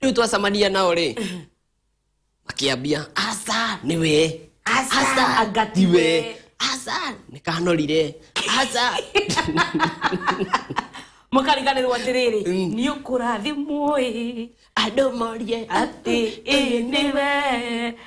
rĩu twacamania nao rĩ makĩambia aca nĩ we Aca, anga ti we." aca nĩ kanorire aca mũkariganĩrwo atĩrĩrĩ Mm. nĩ ũkũrathimwo ĩ andũ morie atĩ ĩ nĩ we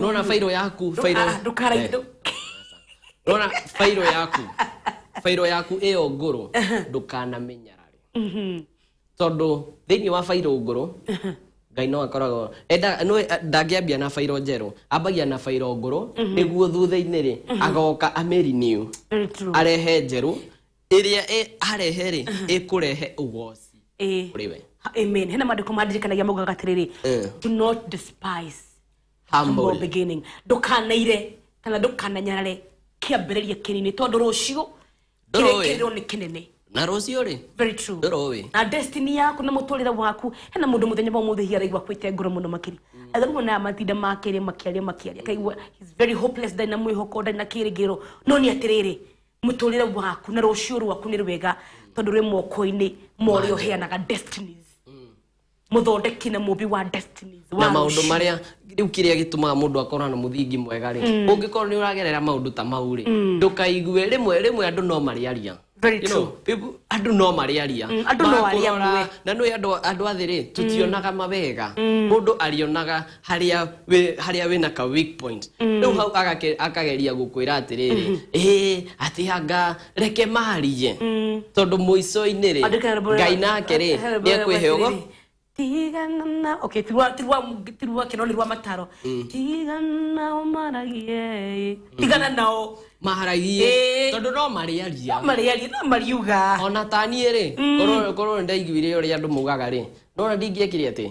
nona fairo yaku fairo ah, eh. nona fairo yaku fairo yaku iyo nguru ndukanamenyarari mhm. tondu thiini wa fairo nguru ngai no akoragwo eh, ndangĩambia na bairo njerũ ambagia na bairo ngũrũ mhm. nĩguo thutha-inĩ rĩ mhm. agoka ameriniu arehe njerũ Ĩrĩa arehe-rĩ, ĩkũrehe ũgooci Ĩĩ. kũrĩ we. Ha- Amen. Hena maandĩko mandirikanagia maugaga atĩrĩrĩ, Eh. do not despise humble Humble. beginning. Ndũkanaire kana ndũkananyarare kĩambĩrĩria kĩnini tondũ rũciũ Ndũrũĩ. kĩrekĩrĩrwo nĩ kĩnene. Na rũciũ-rĩ, Very true. Ndũrũĩ. Na destiny yaku na mũtũrĩre waku hena mũndũ mũthenya wa mũthĩ hihi araigua kwĩte ngoro mũno makĩria athomwo na matinda makĩrĩ makĩaria makĩaria akaigua he's very hopeless ndarĩ na mwĩhoko ndarĩ na kĩrĩgĩro no nĩ atĩrĩrĩ mũtũrĩre waku na rũciũ rwaku nĩ rwega tondũ rwĩ moko-inĩ ma ũrĩa ũheanaga destinies mũthondeki na mũmbi wa destinies na wa maundu rũciũ. maria riu kiria gitumaga mundu akorwo na muthingi mwega ri ungikorwo ni uragerera maundu ta mau ri ndukaigue rimwe rimwe andu no mariaria Very You know, people- andu no mariaria Mm, andũ no arĩa Makũrora, amwe. na nä andå athä rä tå tionaga mawega må ndå arionaga haria we haria wina ka weak point riu hau agake- akageria gukwira atiriri eh ati anga reke marije tondu muico-ini ri Andĩka rwĩmbo rwa- ngai nake ri rwĩmbo ni rwa ekwihe ugo atĩrĩrĩ, tigana na okay tirwa tirwa tirwa kino ni rwa mataro tigana nao maragie tigana nao maharagie Ĩĩ. tondu no mariaria no mariaria no mariuga ona taniä rä korwo nĩ ndaiguire å rä a andå maugaga rä nona ndingä ekire atä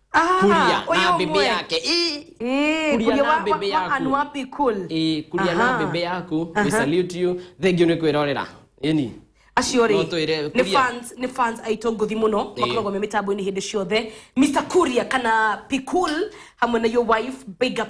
Ah, kuria ũyũ na mbembe ũmwe. yake Ĩ, Ĩ, kuria kuria na wa- mbembe wa- wa yaku. Anua Pikul. Ĩ, kuria na Aha. mbembe yaku Aha. we salute you thank you nĩ kwĩrorera ĩni acio No twĩre rĩ nĩ Kuria. fans nĩ fans aitũ ngũthi mũno Ĩĩ. makoragwo me mĩtambo-inĩ hĩndĩ ciothe mr kuria kana pikul hamwe na your wife big up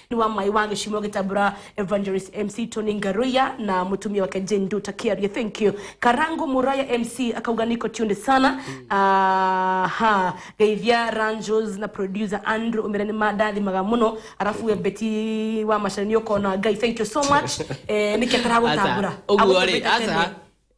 nĩ wa mai wa gĩcimo gĩtambũra evangelist mc tony ngaruya na mũtumia wake jane nduta kiarie thank you karangu muraya mc akauga niko tunde sana aha geithia ranjos na producer andrew umira nĩ mandathimaga mũno arafu we beti wa macani ũkona ngai thank you so much eh, nĩkĩ ataragũtambũra Aca, ũguo rĩ Agũtũmĩte aca tene.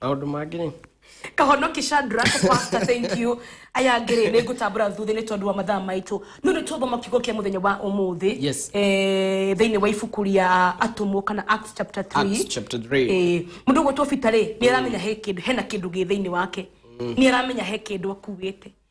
maũndũ mangĩ rĩ kahonoki shandra pasta thank you aya ngĩrĩ nĩ ngũtambũra thuthĩ nĩ tondũ wa mathaa maitũ no nĩ tũthoma kiugo kĩa mũthenya wa ũmũthĩ Yes. eh, thĩinĩ wa ibuku rĩa atũmwo kana acts chapter 3 Acts chapter 3. Eh, mũndũ ũgwĩtwo bita rĩ nĩ aramenya he kĩndũ hena kĩndũ gĩ thĩinĩ wake nĩ aramenya he kĩndũ akuĩte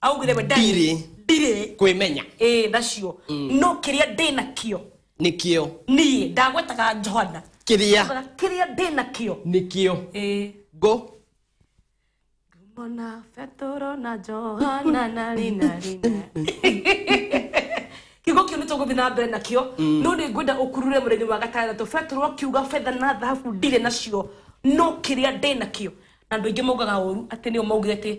augire we ndarĩ Ndirĩ. ndirĩ kwĩmenya ĩĩ nacio no kĩrĩa ndĩ nakĩo nĩkĩo niĩ ndagwetaga johana kĩrĩa Ndakwĩraga kĩrĩa ndĩ nakĩo nĩkĩo ĩĩ ngũ Mona Petero na Johana na Rina Rina. kiugo kĩu nĩ tũgũthiĩ na mbere nakĩo no nĩ ngwenda ũkurure mũthenya wa gatandatũ petero akiuga betha na thahabu ndirĩ nacio no kĩrĩa ndĩ nakĩo na andũ aingĩ maugaga ũru atĩ nĩo maugire atĩ